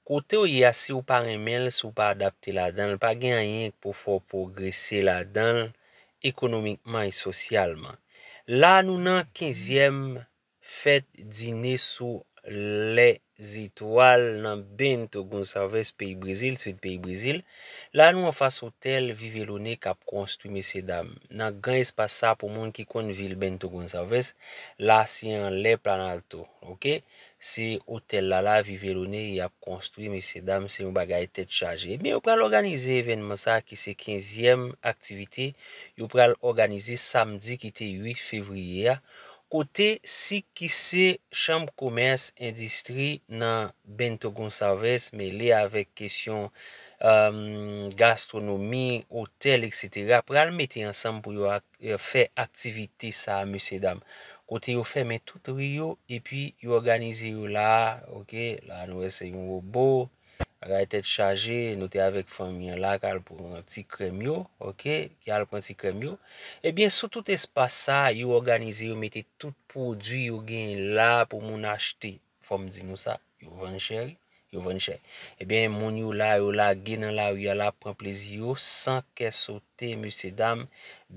Kotew ye a siw pa renmenl siw pa adapte ladanl pa gen anyen k pou fèw pwogrese ladanl ekonomikman e sosyalman. La a nou nan kenzyèm fèt dine sou lè zetwal nan Bento Gonçalves peyi Brezil, sid peyi Brezil. La a nou anfas otèl Vivelone kap konstwi mesye dam. Nan gran espas sa pou moun ki konn vil Bento Gonçalves, la a se anlè Planalto. Ok. Se otèl la la vi Verone y ap konstwi mesye dam se yon bagay tèt chaje. Ebyen yo pral òganize evènman sa ki se kenzyèm aktivite yo pral òganize samdi ki te 8 fevriye a kote sik ki se chanm komès endistri nan Bento Gonçalves mele avèk kesyon gastwonomi, otèl etc pral mete ansanm pou yo ak. fè aktivite sa mesye dam kote yo fèmen tout ri yo epi yo òganize yo la a ok la nou wè se yon robo bagay tèt chaje nou te avèk fanmi an la kal pou yon ti krèm yo ok ki al pran ti krèm yo ebyen sou tout espas sa yo òganize yo mete tout pwodwi yo gen la pou moun achte Fòm di nou sa, yo vann chè wi, yo vann chè. Ebyen eh moun yo la, yo lage nan lari a la pran plezi yo san kè sote mesye dam.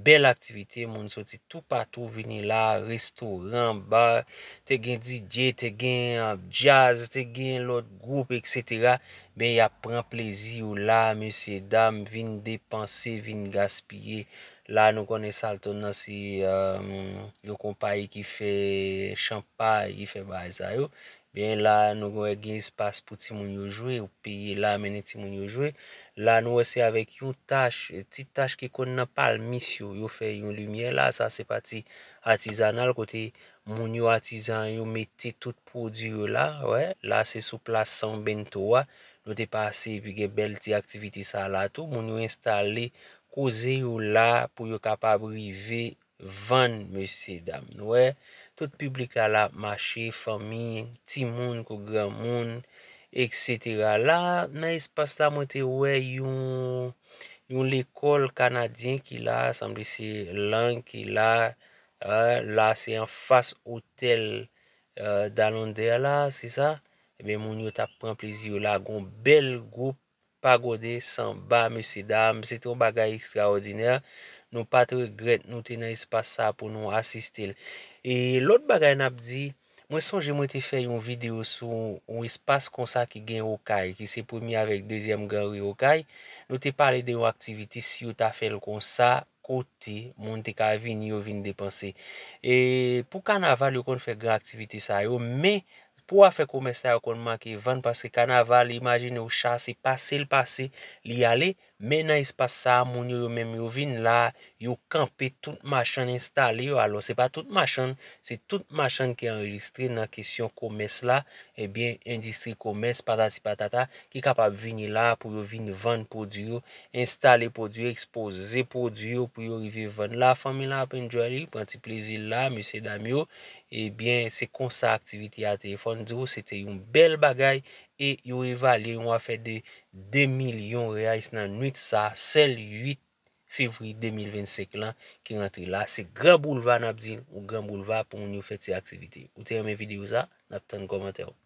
Bèl aktivite, moun soti tou patou vini la, restoran, bar, te gen DJ, te gen jazz, te gen lòt gwoup etc. Ben y ap pran plezi yo la mesye dam vin depanse, vin gaspiye. La nou konnen Salton nan se yon konpayi ki fè chanpay, ki fè bagay sa yo. Byen la nou wè gen espas pou timoun yo jwe, ou peye la mennen timoun yo jwe. La nou wè se avèk yon tach, ti tach ki konn nan palmis yo, yo fè yon limyè la. Sa se pati atizanal kote moun yo atizan yo mete tout pwodui yo la. Wè, la se sou plas San Bento a. Nou te pase epi gen bèl ti aktivite sa la tou. Moun yo enstale Koze yo la pou yo kapab rive vann mesye dam nou wè tout piblik la la ap mache fanmi timoun kou granmoun etc la nan espas la mwen te wè yon yon lekòl kanadyen ki la sanble se lang ki la la se anfas otèl dalondè la se sa ebyen moun yo tap pran plezi yo la gon bèl gwoup Pa gode sanba mesye dam, se te yon bagay ekstraòdinè, nou pat regrèt nou te nan espas sa pou nou asiste l. E lòt bagay n ap di, mwen sonje mwen te fè yon videyo sou yon espas konsa ki gen Okay, ki se premye avèk dezyèm Gran Ri Okay, nou te pale de yon aktivite si yo ta fè l konsa, kote moun te ka vini yo vin depanse. E pou kanaval yo konn fè gran aktivite sa yo men pou afè komès sa yo konn manke vann paske kanaval imajine ou cha se pase l pase li ale men nan espas sa a moun yo yo menm yo vin la yo kanpe tout machann enstale yo alò se pa tout machann se tout machann ki anrejistre nan kesyon komès la ebyen endistri komès patati patata ki kapab vini la pou yo vin vann pwodui yo Enstale pwodwi ekspoze pwodwi yo pou yo rive vann la fanmi lan ap enjoy li pran ti plezi l la mesye dam yo ebyen se konsa aktivite a te ye fòn di w se te yon bèl bagay e yo evalye yon afè de 2 milyon reais nan nwit sa sèl 8 fevriye 2025 lan ki rantre la se gran boulva n ap di ou gran boulva pou moun yo fè ti aktivite ou te renmen videyo sa n ap tann kòmantè w.